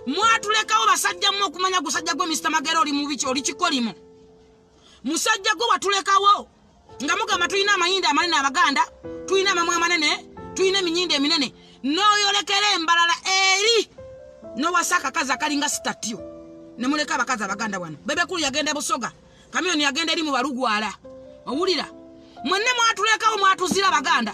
mwatulekawo basajja mu okumanya gusajja gwe Mr. Magero oli mubi ki oli kikolimo musajja gwe watulekawo nga mugamba tulina amayinda amanene abaganda tulina amamwa amanene tulina eminyinda eminene noyolekera embalala eri nowasa akakazi akalinga sitatyo nemuleka abakazi abaganda wano bebekulu yagenda e busoga kamiyoni yagenda eri mu balugwala owulira mwenne mwatulekawo mwatuzira abaganda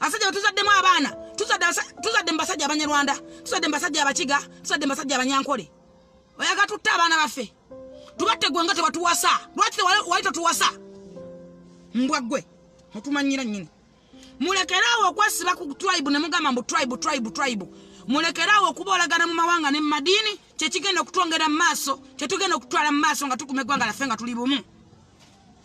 abasajja betuzaddemu abaana tuzadde mu basajja abanyarwanda tuzadde mu basajja abakiga tuzadde mu basajja abanyankole oyaga tutte abaana baffe tubatte gwe nga tewatuwasa lwaki wali totuwasa mbwa ggwe otumanyira nyini mulekeraawo okwesiba ku tribe ne mugamba mbu tribe tribe tribe mulekeraawo okuboolagana mu mawanga ne mu madiini kyekigenda okutwongera mu maaso kyetugenda okutwala mu maaso nga tukuma eggwanga laffe nga tuli bumu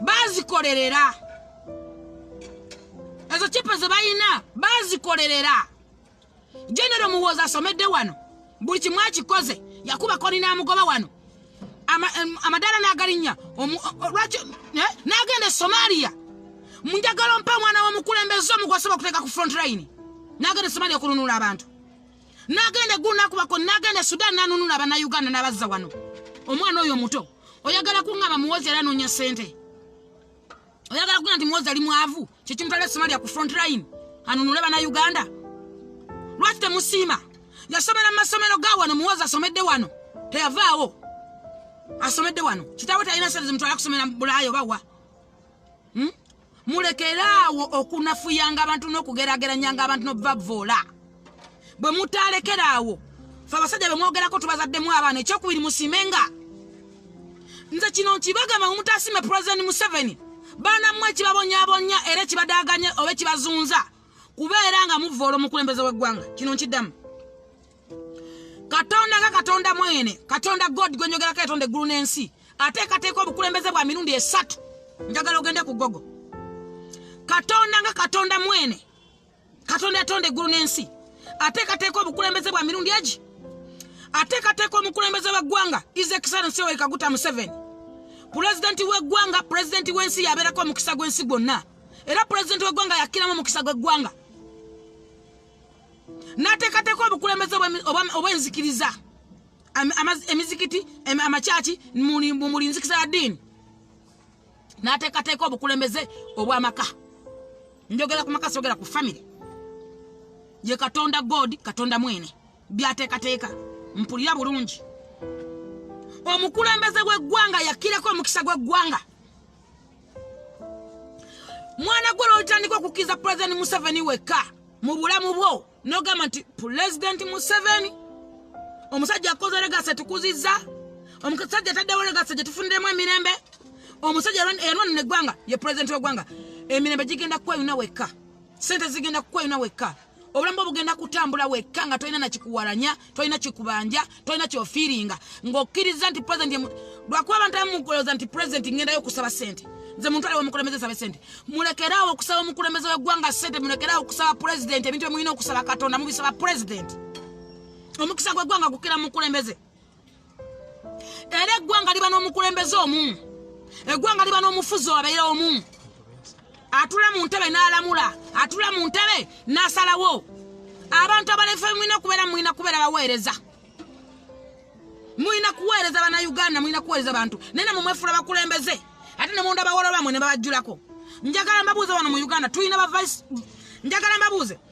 bazikolerera ezo kipe zebalina bazikolerera genero muwooza asomedde wano buli kimu akikoze yakubako nina amugoba wano amadaala nagalinya lwaki eh, nagenda e somalia munjagala ompa omwana womukulembeza omugwasoba okuteeka ku front line nagenda e somalia okununula abantu nagenda eggulu nakubako nagenda sudan nanunula abanauganda nabazza wano omwana oyo omuto oyagala kuŋaba muwozi era nonya sente oyagala kuga nti muwozi ali mwavu kyekimutala esomalia ku front line anunule banauganda lwaki temusiima yasomera mu masomero ga wano muwozi asomedde wano teyavaawo asomedde wano kitawe talina sente zimutwala kusomera bulaaya oba wa hmm? mulekere awo okunafuyanga abantu n'okugerageranyanga abantu n'obubavvoola bwe mutaalekera awo fe abasajja be mwogerako tubazaddemu abaana ekyokubiri musimenga nze kino nkibagamba mumutaasime pulezidenti museveni baana mmwe ekibabonyabonya era ekibadaaganye oba ekibazunza kubeera nga muvvoola omukulembeze w'eggwanga kino nkiddamu katonda nga katonda mwene katonda god gwenjogerako yatonda eggulu n'ensi ateekateeka obukulembeze bwa mirundi esatu njagala ogende ku gogo katonda nga katonda mwene katonda yatonda eggulu n'ensi ateekateeka obukulembeze bwa mirundi egi ateekateeka omukulembeze w'eggwanga is excellence yoweri kaguta museveni pulezidenti w'eggwanga pulezidenti w'ensi yabeerako omukisa gw'ensi gwonna era pulezidenti w'eggwanga yakkiramu omukisa gw'eggwanga n'ateekateeka obukulembeze obwenzikiriza emizikiti amakyaki muli nzikisa ya ddiini n'ateekateeka obukulembeze obw'amaka njogera ku maka sogera ku famire ye katonda god katonda mwene byateekateeka mpulira bulungi omukulembeze gw'eggwanga yakireko omukisa gw'eggwanga mwana gwe lwolitandika okukkiriza pulezidenti museveni wekka mu bulamu bwo nogamba nti pulezidenti museveni omusajja akoze legasa tukuzizza omusajja ataddewo legasa gye tufuniremu emirembe omusajja eyanwana neggwanga ye pulezidenti wegwanga emirembe gigenda kukweyuna wekka sente zigenda kukweyuna wekka obulamu bwe bugenda kutambula wekka nga tolina nakikuwalanya tolina kikubanja tolina kyofiiringa ng'okkiriza nti president lwakuba abantu amukuloza nti president ngendayo okusaba sente nze muntu aliwo omukulembeze sabe sente mulekeraawo okusaba omukulembeze w'eggwanga sente mulekeraawo okusaba president ebintu byemulina okusaba katonda mubisaba president omukisa gw'eggwanga gukira mukulembeze era eggwanga liba n'omukulembeze omu eggwanga liba n'omufuzi owabeera omu atula mu ntebe n'alamula atula mu ntebe n'asalawo abantu abalefe mulina kubeera mulina kubeera baweereza mulina kuweereza bana uganda mulina kuweereza bantu naye namwe mwefula bakulembeze ate ne munda bawolo bamwe ne babajjulako njagala mbabuuze wano mu uganda tulina bavice njagala mbabuuze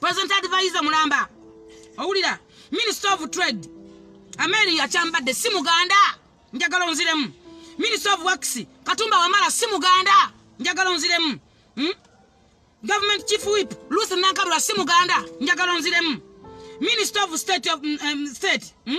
president advisor mulamba owulira minister of trade ameri yakyambadde si muganda njagala onziremu minister of works katumba wamala si muganda njagala onziremu hmm? government chief whip luth nankabula si muganda njagala onziremu minister of state of, um, state hmm?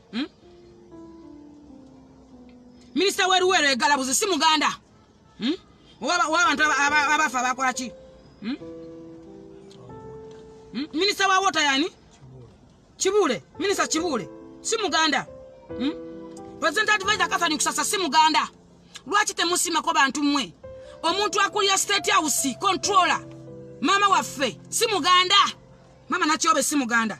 hmm? minisita weruweero egalabuzi si muganda hmm? wabantu abafa abakolaki hmm? minisita wa wota yani kibuule minisita kibuule si muganda president advisor kathani kusasa si muganda lwaki temusimako bantu mmwe omuntu akulira state house controller maama waffe si muganda maama nakyobe si muganda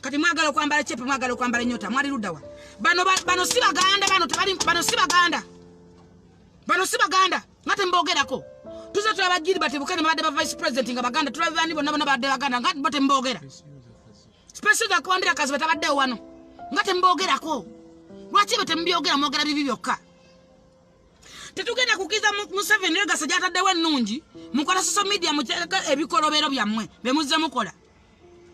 kati mwagala okwambala cepe mwagala okwambala enyota mwali ludawa bano bano si baganda bano tebali bano si baganda bano si baganda nga tembogerako tuze tulaba gilbert bukene babadde ba vice president nga baganda tulaba bani bonna bona babadde baganda nga bo tembogera special ga kwambira kazi batabaddewo wano nga tembogerako lwaki be temubyogera mwogera bibi byokka tetugenda kukiza museveni oyo gasa gyataddewo ennungi mukola social media muteeka ebikolobero byammwe be muzze mukola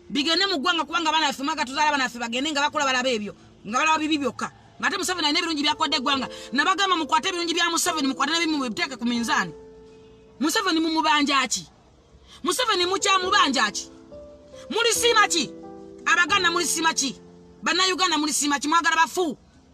bigende mu ggwanga kubanga abaana baffe mwaka tuzaala abaana baffe bagende nga bakola balaba ebyo nga balaba bibi byokka ngate museveni alina ebirungi byakodde eggwanga nabagamba mukwate ebirungi bya museveni mukwate nebimu biteeke ku minzaani museveni mumubanja ki museveni mukyamubanja ki mulisiima ki abaganda mulisiima ki bannayuganda mulisiima ki mwagala bafu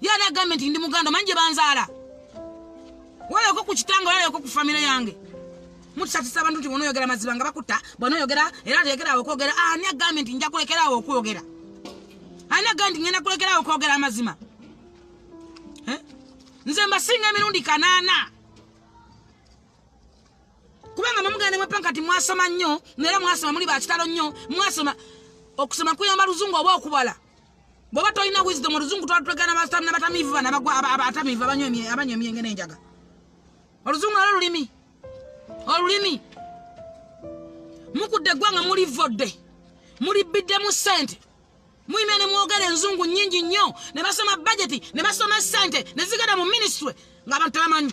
Ye ani agambye nti ndi muganda omanyi gye banzaala? Walabeko ku kitange walabeko ku famire yange. Mutusatisa abantu nti bw'onoyogera mazima nga bakutta bw'onoyogera era teekeraawo okwogera ani agambye nti nja kulekeraawo okwogera? Ani agambye nti ngenda kulekeraawo okwogera amazima? Eh? Nze mbasinga emirundi kanaana. kubanga mwemugenda nemwepa nkati mwasoma nnyo naera mwasoma muli bakitalo nnyo mwasoma okusoma kuyamba luzungu oba okubala bwoba tolina wisdom oluzungu twatutegana basamina batamiivu bana abatamiivu abanywa emyenge n'enjaga oluzungu nalo lulimi olulimi mukudde eggwanga muli vodde muli bbiddemu ssente muyimya ne mwogera enzungu nnyingi nnyo ne basoma bajeti ne basoma ssente ne zigenda mu minisitule ng'abantu tebamanyi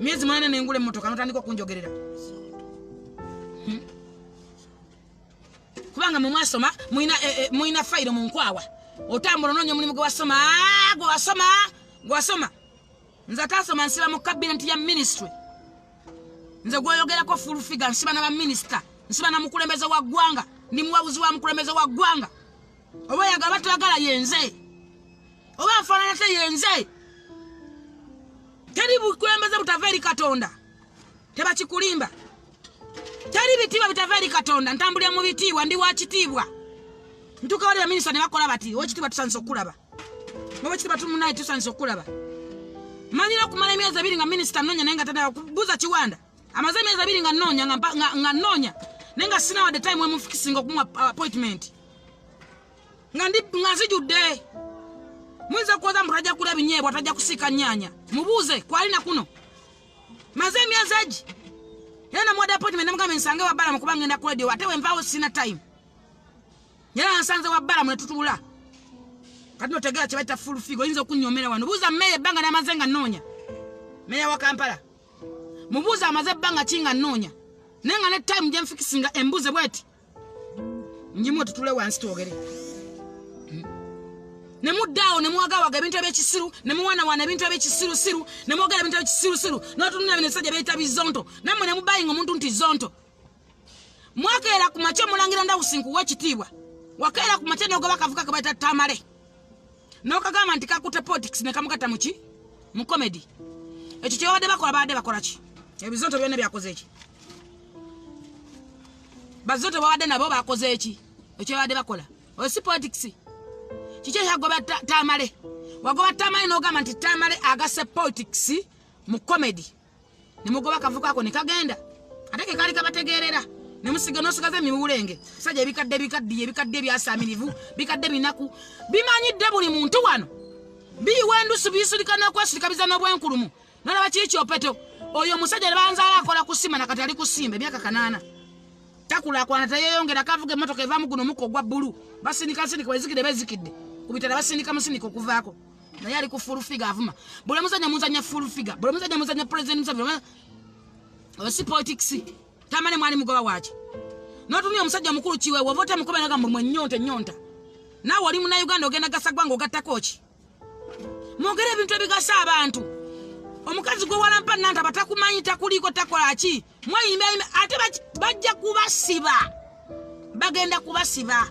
myezi mwana nengula emmotoka notandika okunjogerera hmm? kubanga mwemwasoma mulina eh, eh, fayiro mu nkwawa otambula onoonya omulimu gwe wasoma ah, gwe wasoma gwe wasoma nze atasoma nsiba mu kabineeti ya minisitry nze gweyogerako fulfiga nsiba na baminisita nsiba na mukulembeze wa ggwanga ndi muwabuzi wa mukulembeze wa ggwanga oba oyaga batwagala yenze oba afaanana te yenze teri bukulembeze butava eri katonda tebakikulimba teri bitiibwa bitava eri katonda ntambulira mu bitiibwa ndi wa kitiibwa ntuka wali baminisita ne bakola bati owekitiibwa tusandisa okukulaba owekitiibwa tumunaye tusandisa okukulaba manyira okumala emyezi ebiri nga minisita nonya naye nga tadala kubuza kiwanda amaze emyezi abiri nga nnoonya nga nnoonya naye nga sinawadde time emufikisinga okumuwa uh, appointment nga ndi nga nzijudde muyinza kuwoza mbu tajja kula ebinyeebwa tajja kusiika nnyanya mubuuze kwali na kuno maze emyezi egi era namuwadde appointment namugambe nsange wabbala mukuba ngenda ku radio ate wenvaawo sina time era nsanze wabbala mu netutula kati notegera kyebaita full figo oyinza okunyomera wano buuza meeya ebbanga namaze nga nnoonya meeya wa kampala mubuuza amaze ebbanga ki nga nnoonya naye nga ne time gye nfikisinga embuuze bweti njimu otutule wansi twogere ne muddaawo ne muwagawaga ebintu ebyekisiru ne muwanawana ebintu ebyekisirusiru ne mwogera ebintu ebyekisirusiru n'otunula bino ebisajja byeyita bizonto nammwe ne mubayinga omuntu nti zonto mwakeera ku makya omulangira ndawusi nkuwa ekitiibwa wakeera ku makya nogoba akavuka kabaita tamale nokagamba nti kakute politics nekamugata muki mu comedy ekyo kyebabadde bakola babadde bakolaki ebizonto byona byakoze eki bazonto babadde nabo bakoze eki ekyo babadde bakola oyo si politics kiki ekyagoba tamale wagoba tamale nogamba nti tamale agase politics mu comedy ne mugoba akavuko ako ne kagenda ate ke kaali kabategeerera ne musiga n'osigaza emiwulenge sajja ebikadde bikaddiye ebikadde ebyasaamirivu bikadde binaku bimanyidde buli muntu wano biyiwa endusu biyisulika n'okwesirikabiza n'obwenkulumu nolaba kiri kyopeto oyo omusajja ne banzaala akola kusima nakati ali kusimba emyaka kanaana takulaakwana teyeyongera kavuga emmotoka evamu guno omukka ogwa bbulu basindika nsindika wezikidde bezikidde ku bitala basindika musindika okuvaako naye ali ku full figure avuma buli muzanya muzanya full figure buli muzanya muzanya president museveni si politics tamale mwali mugoba waki notumya omusajja omukulu kiwe wova otemukoberaga mbu mwenyonta enyonta naawe oli muna uganda ogenda gasagwa nga ogattako ki mwogere ebintu ebigasa abantu omukazi gwe walampa nanta batakumanyi takuliiko takola ki mweyimba ate bajja kubasiba bagenda kubasiba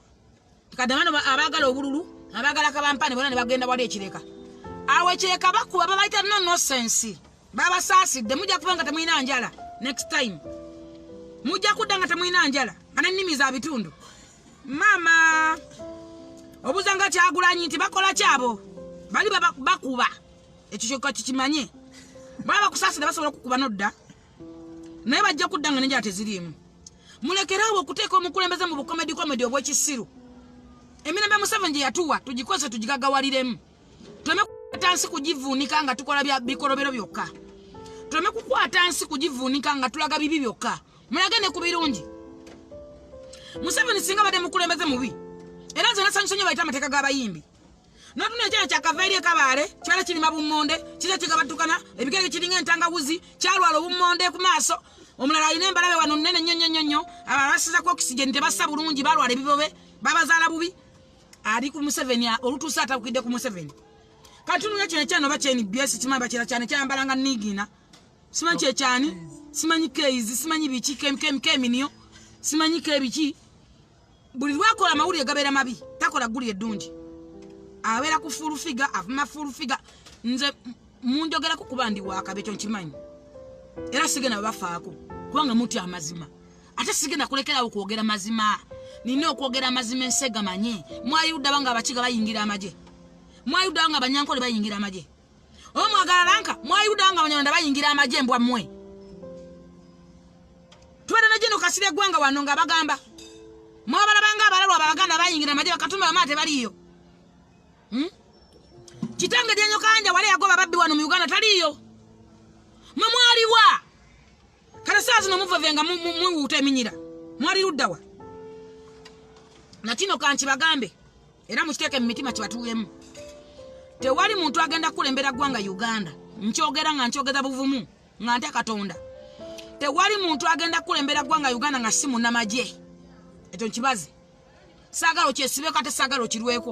kadamano abagala obululu abagala kabampane bona nebagenda wali ekireka awo ekireka bakuba babaita no nosense babasaasidde mujja kuba nga temulina njala next time mujja kudda nga temulina njala nga nennimi za bitundu maama obuza nga kyagulanyi nti bakola kyabo bali bakuba ekyo kyoka kikimanye baba bakusaasira basobola okukuba nodda naye bajja kudda nga nenjala teziriimu mulekeraawo okuteeka omukulembeze mu bukomedi komedi obwekisiru emirembe museveni gye yatuwa tugikozese tugigagawaliremu tuleme kukwata nsi kugivuunika nga tukola bikolobero byokka tuleme kukwata nsi kugivuunika nga tulaga bibi byokka mulage ne ku birungi museveni singa badde mukulembeze mubi era nze nasanyusonyo bayita amateeka g'abayimbi notuna ekyana kyakava eri ekabaale kyala kirima bummonde kiza kigabatukana ebigere kiringa entangawuzi kyalwala obummonde ku maaso omulala alina embalabe wano nene nyo nyo nyo nyo abalala basizako oxygen tebassa bulungi balwala ebibobe babazaala bubi ali ku museveni olutuuse atakukidde ku museveni kati nuya kino ekyana oba kyeni byesi kimanyi bakira kyane kyayambalanga nigina simanyi kyekyani simanyi keizi simanyi biki keminiyo simanyi kebiki buli lwakola amawulire gabeera mabi takola ggulire eddungi abeera ku fulufiga avuma fulufiga nze munjogerako kuba ndi wakaba ekyo nkimanyi era sigenda babafaako kubanga muti amazima ate sigenda kulekerawo kwogera mazima nina okwogera amazima ensi egamanye mwayuddaba nga abakiga bayingira amagye mwayuddaba nga abanyankole bayingira amagye omwagala lanka mwayuda nga banyarwanda bayingira amagye mbwa mwe tubadde ne jeno kasira eggwanga wano nga bagamba mwabalabanga abalalwa abaganda bayingira amagye bakatumba bamala tebaliyo hmm? kitange dyanyo kanja wali yagoba babbi wano mu uganda taliyo mwe mwaliwa kale saa zino muveve nga mwiwuuta eminyira mwali luddawa nakino kankibagambe era mukiteeke mu mitima kibatuwemu tewali muntu agenda kukulembera ggwanga uganda nkyogera nga nkyogeza buvumu nga nte katonda tewali muntu agenda kukulembera ggwanga uganda nga si munamagye ekyo nkibazi saagala okyesibeko ate saagala okirweko